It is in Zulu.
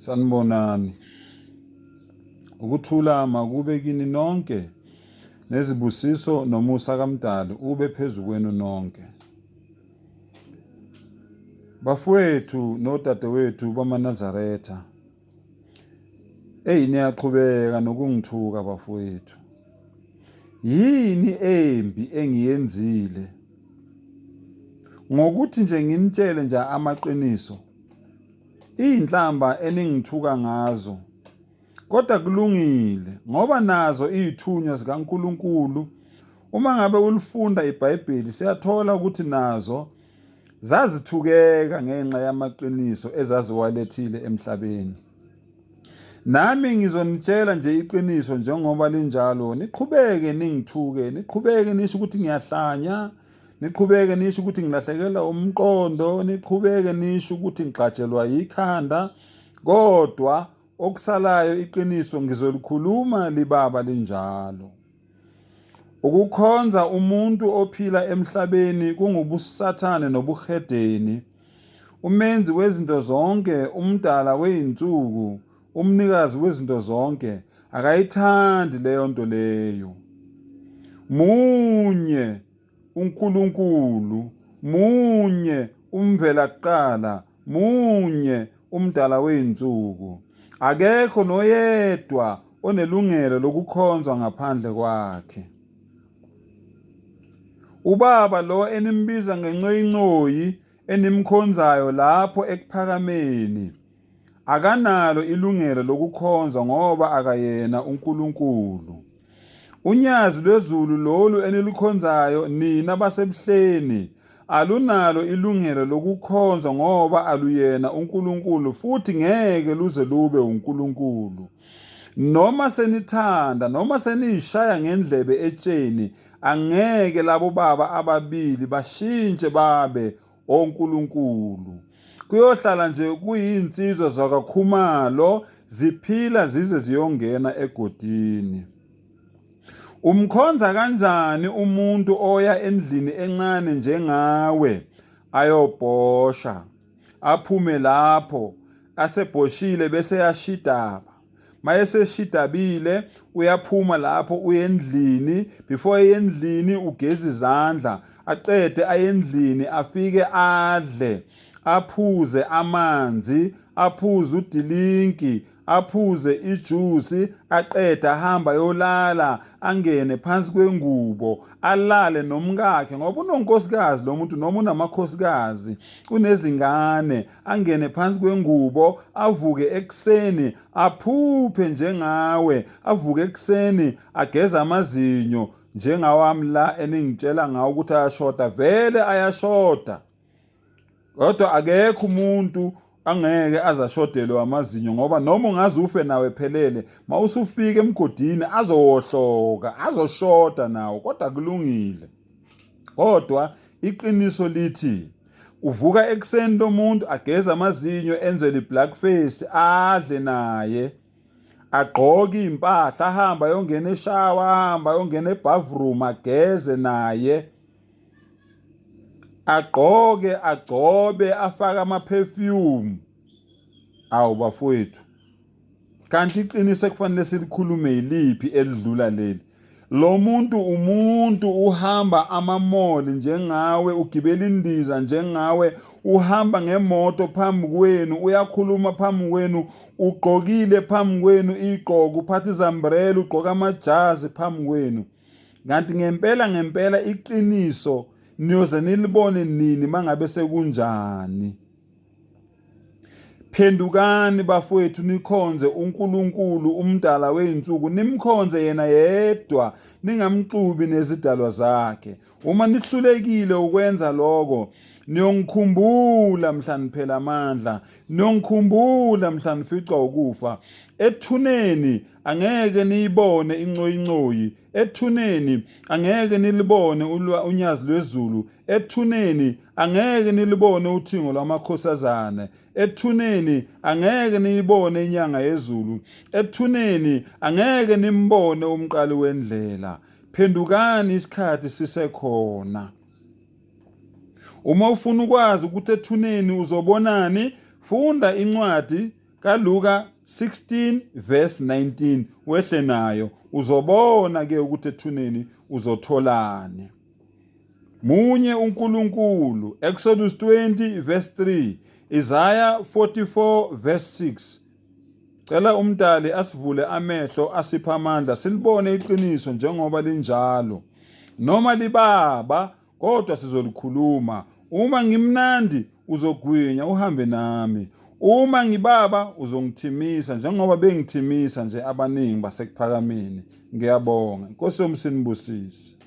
Sanibonani. Ukuthula makube kini nonke nezibusiso nomusa kaMdali ube phezu kwenu nonke. Bafowethu nodadewethu bamaNazaretha. Eyi niyaqhubeka nokungithuka bafowethu. Yini embi engiyenzile? Ngokuthi nje nginitshele nje amaqiniso Iy'nhlamba eningithuka ngazo, kodwa kulungile ngoba nazo iy'thunywa zikaNkulunkulu. Uma ngabe ulifunda iBhayibheli siyathola ukuthi nazo zazithukeka ngenxa yamaqiniso ezaziwalethile emhlabeni. Nami ngizonitshela nje iqiniso njengoba linjalo, niqhubeke ningithuke, niqhubeke nisho ukuthi ngiyahlanya, niqhubeke nisho ukuthi ngilahlekelwa umqondo niqhubeke nisho ukuthi ngigxatshelwa yikhanda kodwa okusalayo iqiniso ngizolikhuluma libaba linjalo ukukhonza umuntu ophila emhlabeni kungubusathane nobuhedeni umenzi wezinto zonke umdala weyinsuku UMnikazi wezinto zonke akayithandi leyo nto leyo. Munye uNkulunkulu, munye umvela kuqala, munye umdala wey'nsuku. Akekho noyedwa onelungelo lokukhonzwa ngaphandle kwakhe. Ubaba lo enimbiza ngencoyincoyi enimkhonzayo lapho ekuphakameni akanalo ilungelo lokukhonza ngoba akayena uNkulunkulu. UNyazi lwezulu lolu enilukhonzayo nina baseBuhleni alunalo ilungelo lokukhonza ngoba aluyena uNkulunkulu futhi ngeke luze lube uNkulunkulu. Noma senithanda noma seniyishaya ngendlebe etsheni angeke labo baba ababili bashintshe babe oNkulunkulu. Kuyohlala nje kuyinsizwa zakaKhumalo ziphila zize ziyongena egodini. Umkhonza kanjani umuntu oya endlini encane njengawe ayobhosha aphume lapho asebhoshile bese yashidaba. mayeseshidabile uyaphuma lapho uyendlini before eyendlini ugeza izandla aqede ayendlini afike adle aphuze amanzi aphuze udilinki aphuze ijusi aqede ahamba yolala angene phansi kwengubo alale nomkakhe ngoba unonkosikazi lo muntu noma unamakhosikazi unezingane angene phansi kwengubo avuke ekuseni aphuphe njengawe avuke ekuseni ageza amazinyo njengawami la eningitshela ngawo ukuthi ayashoda vele ayashoda kodwa akekho umuntu angeke azashodelwe amazinyo ngoba noma ungaze ufe nawe phelele mawusufika emgodini azowohloka azoshoda nawo kodwa kulungile kodwa iqiniso lithi Uvuka ekuseni lo muntu ageze amazinyo enze li-black face adle naye agqoke iy'mpahla ahambe ayongena eshawa ahambe ayongena ebhavroom ageze naye agqoke agcobe afake ama-perfume awu bafowethu Kanti iqiniso ekufanele silikhulume yiliphi elidlula leli? Lo muntu umuntu uhamba amamoli njengawe, ugibela indiza njengawe, uhamba ngemoto phambi kwenu, uyakhuluma phambi kwenu, ugqokile phambi kwenu igqoko, uphatha izambrela, ugqoka amajazi phambi kwenu. Kanti ngempela ngempela iqiniso niyoze nilibone nini mangabe sekunjani? Phendukani bafowethu nikhonze uNkulunkulu umdala wey'nsuku nimkhonze yena yedwa ningamxubi nezidalwa zakhe. Uma nihlulekile ukwenza loko niyongikhumbula mhla niphela amandla, niyongikhumbula mhla nificwa ukufa. Ethuneni angeke niyibone incoyincoyi, ethuneni angeke nilibone unyazi lwezulu, ethuneni angeke nilibone uthingo lwamakhosazane ethuneni angeke niyibone inyanga yezulu ethuneni angeke nimbone umqali wendlela phendukani isikhathi sisekhona uma ufuna ukwazi ukuthi ethuneni uzobonani funda incwadi kaLuka 16 verse 19 wehle nayo uzobona ke ukuthi ethuneni uzotholani Munye uNkulunkulu, Eksodusi 20 verse 3, Isaya 44 verse 6. Cela uMdali asivule amehlo asipha amandla silibone iqiniso njengoba linjalo. Noma libaba kodwa sizolikhuluma. Uma ngimnandi uzogwinya uhambe nami. Uma ngibaba uzongithimisa njengoba bengithimisa nje abaningi basekuphakameni. Ngiyabonga. Nkosi yomsinibusise.